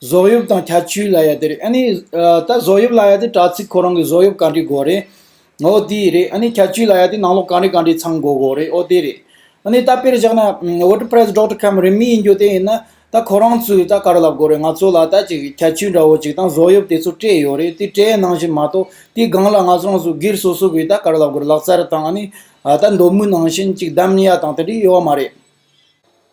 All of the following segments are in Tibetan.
བཟོ་དབྱིབས་དང་ཁྱད་ཆོས་ལ་ཡ་དེ་རེད་ཨཱ་ནི། ད་བཟོ་དབྱིབས་ལ་ཡ་དེ་དྲ་ཚིགས་ཁོ་རང་གི་བཟོ་དབྱིབས་ག་འདྲའི་དགོས་རེད། ཨོ་དེ་རེད་ཨཱ་ནི། ཁྱད་ཆོས་ལ་ཡ་དེ་ནང་ལོག་ག་འདྲའི་ག་འདྲའི་ཚང་དགོས་དགོས་རེད་ཨོ་དེ་རེད། ཨཱ་ནི། ད་དཔེར་བཞག་ན། WordPress Doctor Cam རིན་མི་ཡིན་རྒྱུ་དེ་ཡིན་ན། ད་ཁོ་རང་ཚོས་ད་ག་རེ་ལབ་དགོས་རེད་ང་ཚོ་ལ་ད་ཅིག་ཁྱད་ཆོས་འདྲ་བོ་ཅིག་དང་བཟོ་དབྱིབས་དེ་ཚོ་སྤྲད་ཡོད་རེད་དེ་སྤྲད་ནང་བཞིན་མ་གཏོགས་དེའི་སྒང་ལ་ང་ཚོ་རང་ཚོ་སྒེར་སོ་སོ་གིས་ད་ག་རེ་ལབ་དགོས་རེད་ལག་རྩལ་དང་ཨཱ་ནི། ད་མདོ་སྨུག་ནང་བཞིན་ཅིག་བསྡམས་ཡ་དང་དེ་འདྲའི་ཡོད་མ་རེད།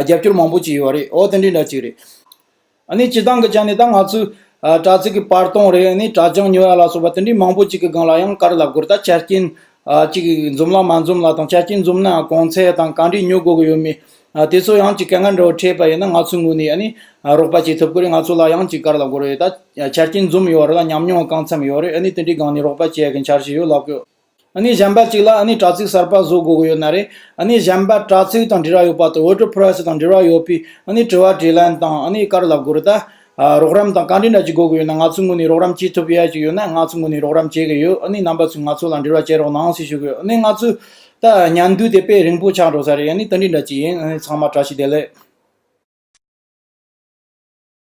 རྒྱབ་སྐྱོར་མང་པོ་བྱས་ཡོད་རེད་ཨོ་དེ་འདྲའི་འདྲ་གཅིག་རེད། ཨཱ་ནི་བྱེད་སྟངས་གི་ཆ་ནས་ད་ང་ཚོའི། དྲ་ཚིགས་གི་བར་སྟོང་རེད་ཨཱ་ནི་དྲ་བྱང་ཉོ་ཡ་ལ་སོགས་པ་དེ་འདྲའི་མང་པོ་ཅིག་གི་སྒང་ལ་ཡང་བཀར་ལབ་དགོས་རེད་ད་ཆ་རྐྱེན། ཅིག་འཛོམས་ལ་མ་འཛོམས་ལ་དང་ཆ་རྐྱེན་འཛོམས་ནའང་གོང་ཚད་དང་གང་འདྲས་ཉོ་དགོས་ཀྱི་ཡོད་མེད། དེ་ཚོ་ཡང་ཅིག་གལ་འགངས་འདྲ་བོ་འཕྲད་པ་ཡིན་ན་ང་ཚོའི་ངོས་ནས་ཨཱ་ནི། རོགས་པ་བྱེད་ཐུབ་ཀྱི་རེད་ང་ཚོ་ལ་ཡང་ཅིག་བཀར་ལབ་དགོས་རེད་ད། ཆ་རྐྱེན་འཛོམས་ཡོད་རེད་ལ་ཉམས་མྱོང་གང་འཚམས་ཡོད་རེད་ཨཱ་ནི་དེ་འདྲའི་སྒང་ནས་རོགས་པ་བྱེད་ཀྱི་འཆར་གཞི་ཡོད་ལབ་དགོས། ཨ་ནི་གཞན་པ་གཅིག་ལ་ཨ་ནི་དྲ་ཚིགས་གསར་པ་བཟོ་དགོས་ཀྱི་ཡོད་ན་རེད་ཨ་ནི་གཞན་པ་དྲ་ཚིགས་དང་འབྲེལ་བ་ཡོད་པ་དང་བོད་དྲུག Press དང་འབྲེལ་བ་ཡོད་པའི་ཨ་ནི་དྲི་བ་དྲིས་ལན་དང་ཨ་ནི་དཀར་ལབ་དགོས་རེད་ད། རོགས་རམ་དང་བཀའ་དྲིན་འདྲ་གཅིག་དགོས་ཀྱི་ཡོད་ན་ང་ཚོའི་ངོས་ནས་རོགས་རམ་བྱེད་ཐུབ་ཡས་གཅིག་ཡོད་ན་ང་ཚོའི་ངོས་ནས་རོགས་རམ་བྱེད་ཀྱི་ཡོད་ཨ་ནི་རྣམ་པ་ཚོས་ང་ཚོ་ལ་འབྲེལ་བ་བྱེད་རོགས་གནང་ཞེས་ཞུ་གི་ཡོད་ཨ་ནི་ང་ཚོའི་ད་ཉན་དུས་དེ་དཔེ་རིང་པོ་ཆགས་འགྲོ་ས་རེད་ཨ་ནི་བཀའ་དྲིན་འདྲ་གཅིག་ཡིན་ཨ་ནི་ཚང་མ་བཀྲ་ཤིས་བདེ་ལེགས།